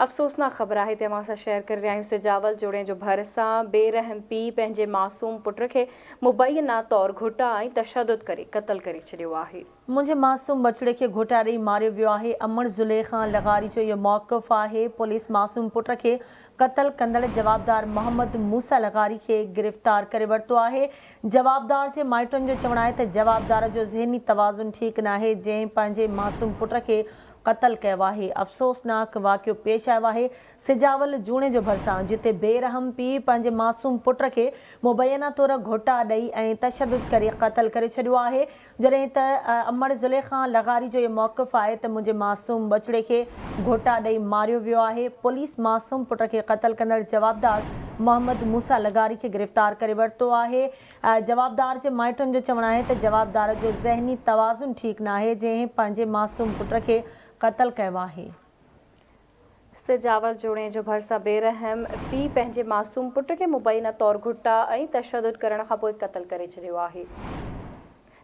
افسوسناڪ خبر آهي ته اوهان سان شيئر ڪري رهيا آهيون سجاول جوڻيء جو ڀر سان بي رحم پيء پنهنجي معصوم پٽ کي مبينا طور گهوٽا ۽ تشدد ڪري قتل ڪري ڇڏيو آهي. منهنجي معصوم ٻچڙي کي گهوٽا ڏئي ماريو ويو آهي امڙ زليخان لغاري جو اهو موقف آهي پوليس معصوم پٽ کي قتل ڪندڙ جوابدار محمد موسيٰ لغاري کي گرفتار ڪري ورتو آهي جوابدار جي مائٽن جو چوڻ آهي ته جوابدار جو ذهني توازن ٺيڪ ناهي جنهن پنهنجي معصوم پٽ کي قتل ڪيو آهي. افسوسناڪ واقعو پيش آيو آهي سجاول جوڻيجو ڀرسان، جتي بي رحم پيء پنهنجي معصوم پٽ کي مبينا طور گهوٽا ڏئي ۽ تشدد ڪري قتل ڪري ڇڏيو آهي، جڏهن ته امڙ ضلعي کان لغاري جو اهو موقف آهي ته منهنجي معصوم ٻچڙي کي گهوٽا ڏئي ماريو ويو آهي، پوليس معصوم پٽ کي قتل ڪندڙ جوابدار محمد موسيٰ لغاري کي گرفتار ڪري ورتو آهي. جوابدار جي مائٽن جو چوڻ آهي ته جوابدار جو ذهني توازن ٺيڪ ناهي جنهن پنهنجي معصوم پٽ کي قتل ڪيو آهي. سجاول جوڻيجو ڀرسان بي رحم پيء پنهنجي معصوم پٽ کي مبينا طور گهٽا ۽ تشدد ڪرڻ کانپوء قتل ڪري ڇڏيو آهي.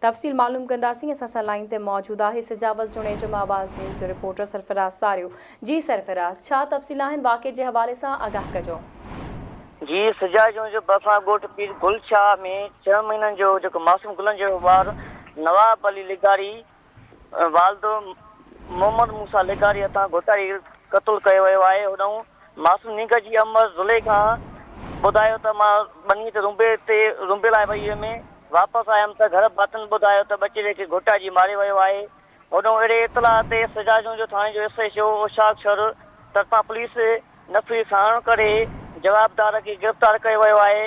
تفصيل معلوم ڪنداسين اسان سان لائين تي موجود آهي سجاول جوڻيجو مان آواز نيوز جو رپورٽر سرفراز ساريو جي سرفراز ڇا تفصيل آهن واقعي جي حوالي سان آگاهه ڪجو. جي سجاول جوڻيجو ڀرسان ڳوٺ پير گل شاهه ۾ ڇهه مهينن جو جيڪو معصوم گلن جهڙو ٻار نواب علي لغاري والد محمد موسيٰ لغاري هٿان گهوٽائي قتل ڪيو ويو آهي. هنئون معصوم نينگر جي اما زليخا ٻڌايو ته مان ٻنيء تي رونبي تي رونبي لاء وئي هيم. واپس آيم ته گهر ڀاتين ٻڌايو ته ٻچيري کي گهوٽائجي ماريو ويو آهي. هنئون اهڙي اطلاع تي سجاجونء جو ٿاڻي جو S H O Ushaq Shar طرفان پوليس نفري ساڻ ڪري جوابدار کي گرفتار ڪيو ويو آهي.